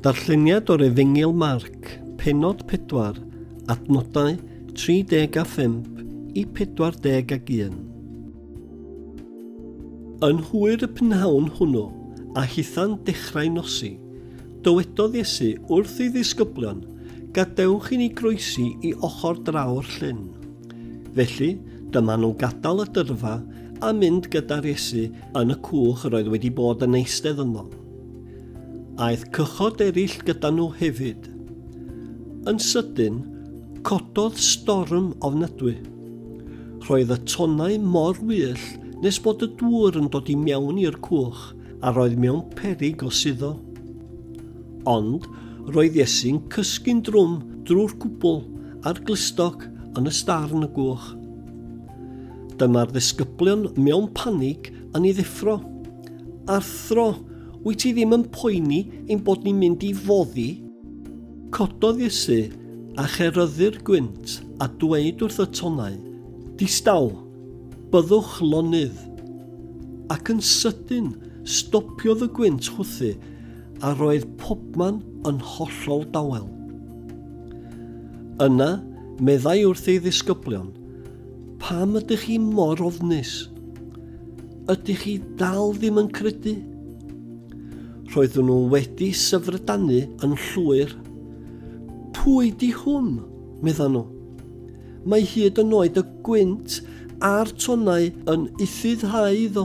Darlleniad o'r Efengyl Marc, penod 4, adnodau 35 i 41. Yn hwyr y pnawn hwnnw, a hitha'n dechrau nosi, dywedodd Iesu wrth ei ddisgyblion, Gadewch i ni groesi i ochr draw'r llyn. Felly, dyma nhw'n gadael y dyrfa a mynd gyda'r Iesu Yn y cwch yr oedd wedi bod yn eistedd yno. Aeth cychod eraill gyda nhw hefyd. Yn sydyn, cododd storm ofnadwy. Roedd y tonnau mor wyll nes bod y dŵr yn dod i mewn i'r cwch a roedd mewn perig o suddo. Ond roedd Iesu'n cysgu'n drwm drwy'r cwbl a'r glustog yn y starn y gwch. Dyma'r ddisgyblion mewn panig yn ei ddeffro. Arthro, wyt ti ddim yn poeni ein bod ni'n mynd i foddi? Cododd Iesu a cheryddu'r gwynt a dweud wrth y tonnau, Distaw, byddwch lonydd. Ac yn sydyn, stopiodd y gwynt chwthu a roedd pobman yn hollol dawel. Yna, meddai wrth ei ddisgyblion, Pam ydych chi mor ofnus? Ydych chi dal ddim yn credu? Roeddwn nhw wedi syfrdanu yn llwyr. Pwy di hwn? meddan nhw. Mae hyd yn oed y gwynt a'r tonau yn ufuddhau iddo.